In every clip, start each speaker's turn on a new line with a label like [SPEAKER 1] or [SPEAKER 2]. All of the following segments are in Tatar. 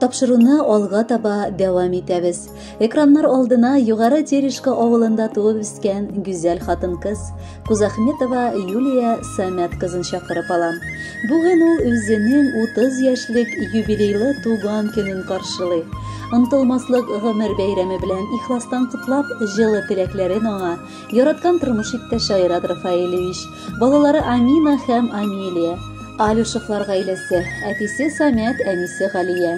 [SPEAKER 1] Тапшыруны алга таба дәвам итәбез. Экраннар алдына Югары Терешка авылында туып үскән гүзәл хатын-кыз Кузахметова Юлия Самят кызын чакырып алам. Бүген ул үзенең 30 яшьлек юбилейлы туган көнен каршылый. Онтылмаслык гомер бәйрәме белән ихластан котлап, җылы теләкләрен аңа Яраткан тормыш иптәше Айрат Рафаилевич, балалары Амина һәм Амилия, Алюшевлар гаиләсе, әтисе Самят, әнисе Галия,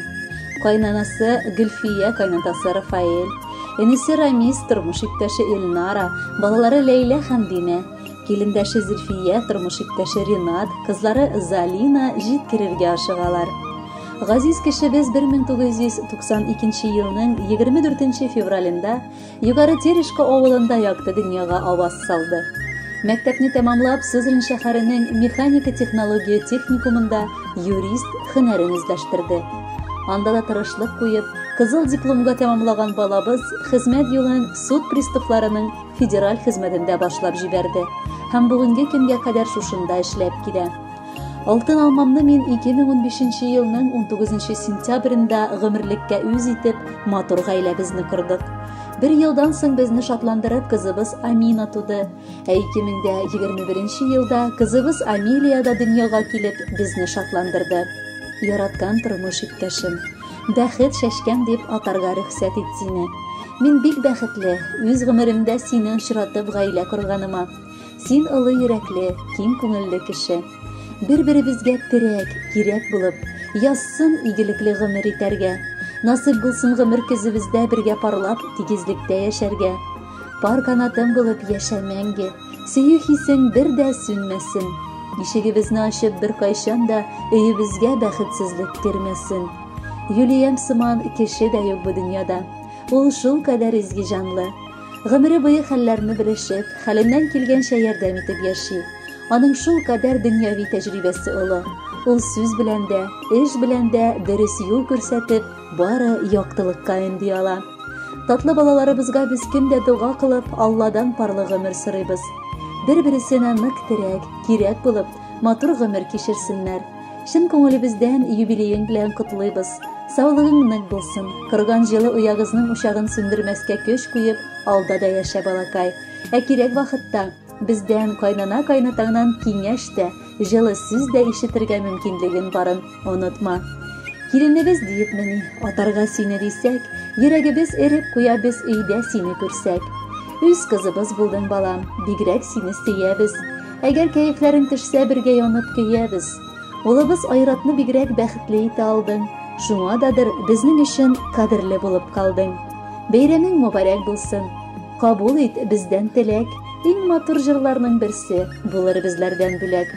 [SPEAKER 1] кайнанасы Гөлфия, кайнатасы Рафаэль, энесе Рамис, тормыш иптәше Эльнара, балалары Ләйлә һәм Динә, килендәше Зөлфия, тормыш иптәше Ринат, кызлары Залина җиткерергә ашыгалар. Газиз кешебез 1992 елның 24 февралендә Югары Терешка авылында якты дөньяга аваз салды. Мәктәпне тәмамлап, Сызрань шәһәренең механика технология техникумында юрист һөнәрен үзләштерде. Анда да тырышлык куеп, кызыл дипломга тәмамлаган балабыз хезмәт юлын суд приставларының федераль хезмәтендә башлап җибәрде һәм бүгенге көнгә кадәр шушында эшләп килә. Алтын алмамны мин 2015 елның 19 сентябрендә гомерлеккә үз итеп, матур гаиләбезне кордык. Бер елдан соң безне шатландырып кызыбыз Амина туды. Ә 2021 елда кызыбыз Амилия да дөньяга килеп, безне шатландырды. Яраткан тормыш иптәшем, бәхет чәчкән дип атарга рөхсәт ит сине. Мин бик бәхетле, үз гомеремдә сине очратып гаилә корганыма. Син олы йөрәкле, киң күңелле кеше. Бер-беребезгә терәк, кирәк булып, язсын игелекле гомер итәргә. Насыйп булсын гомер көзебездә бергә парлап, тигезлектә яшәргә. Пар канатым булып яшә мәңге. Сөю хисең бер дә сүнмәсен. Ишегебезне ачып беркайчан да өебезгә бәхетсезлек кермәсен. Юлиям сыман кеше дә юк бу дөньяда. Ул шул кадәр изге җанлы. Гомере буе хәлләрне белешеп, хәленнән килгәнчә ярдәм итеп яши. Аның шул кадәр дөньяви тәҗрибәсе олы. Ул сүз белән дә, эш белән дә дөрес юл күрсәтеп, бары яктылыкка өнди ала. Татлы балаларыбызга без көн дә дога кылып, Алладан парлы гомер сорыйбыз. Бер-бересенә нык терәк, кирәк булып, матур гомер кичерсеннәр. Чын күңелебездән юбилеең белән котлыйбыз. Саулыгың нык булсын. Корган җылы оягызның учагын сүндермәскә көч куеп, алда да яшә, балакай. Ә кирәк вакытта бездән кайнана-кайнатаңнан киңәш тә, җылы сүз дә ишетергә мөмкинлеген барын онытма. Киленебез диеп мени, атарга сине дисәк, йөрәгебез эреп куя без өйдә сине күрсәк. Үз кызыбыз булдың, балам, бигрәк сине сөябез. Әгәр кәефләрең төшсә, бергә янып көябез. Улыбыз Айратны бигрәк бәхетле итә алдың. Шуңа дадыр безнең өчен кадерле булып калдың. Бәйрәмең мөбарәк булсын. Кабул ит бездән теләк. Иң матур җырларның берсе булыр безләрдән бүләк.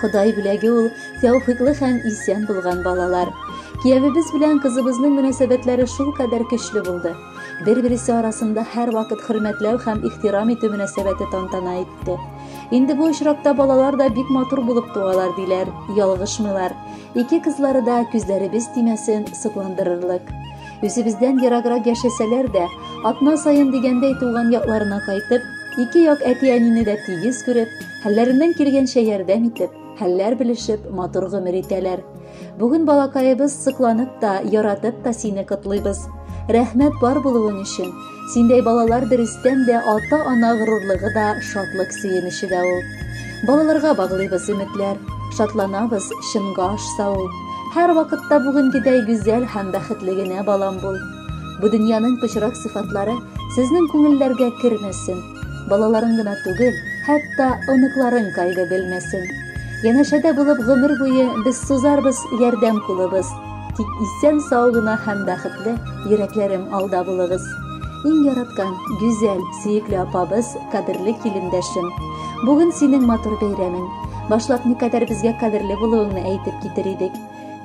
[SPEAKER 1] Ходай бүләге ул тәүфиклы һәм исән булган балалар. Киявебез белән кызыбызның мөнәсәбәтләре шулкадәр көчле булды. Бер-бересе арасында һәрвакыт хөрмәтләү һәм ихтирам итү мөнәсәбәте тантана итте. Инде бу очракта балалар да бик матур булып туалар, диләр. Ялгышмыйлар. Ике кызлары да күзләребез тимәсен, сокландырырлык. Үзебездән ераграк яшәсәләр дә, атна саен дигәндәй туган якларына кайтып, ике як әти-әнине дә тигез күреп, хәлләреннән килгәнчә ярдәм итеп, хәлләр белешеп, матур гомер итәләр. Бүген балакаебыз сокланып та, яратып та сине котлыйбыз. Рәхмәт бар булуың өчен. Синдәй балалар дөрестән дә ата-ана горурлыгы да, шатлык сөенече дә ул. Балаларга баглыйбыз өметләр, шатланабыз, чынга ашса ул. Һәр вакытта бүгенгедәй гүзәл һәм бәхетле генә балам бул. Бу дөньяның пычрак сыйфатлары сезнең күңелләргә кермәсен. Балаларың гына түгел, хәтта оныкларың кайгы белмәсен. Янәшәдә булып гомер буе без сузарбыз ярдәм кулыбыз. Тик исән сау гына һәм бәхетле йөрәкләрем алда булыгыз. Иң яраткан, гүзәл, сөекле апабыз, кадерле килендәшем. Бүген синең матур бәйрәмең. Башлап никадәр безгә кадерле булуыңны әйтеп китер идек.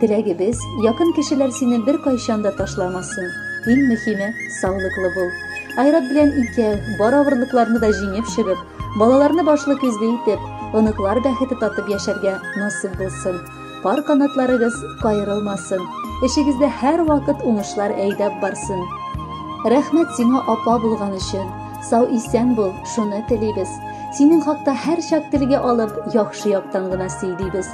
[SPEAKER 1] Теләгебез, якын кешеләр сине бер кайчан да ташламасын. Иң мөһиме, саулыклы бул. Айрат белән икәү, бар авырлыкларны да җиңеп чыгып, балаларны башлы күзле итеп, оныклар бәхете татып яшәргә насыйп булсын. Пар канатларыгыз кайрылмасын. Эшегездә һәрвакыт уңышлар әйдәп барсын. Рәхмәт сиңа апа булган өчен. Сау исән бул, шуны телибез. Синең хакта һәрчак телгә алып, яхшы яктан гына сөйлибез.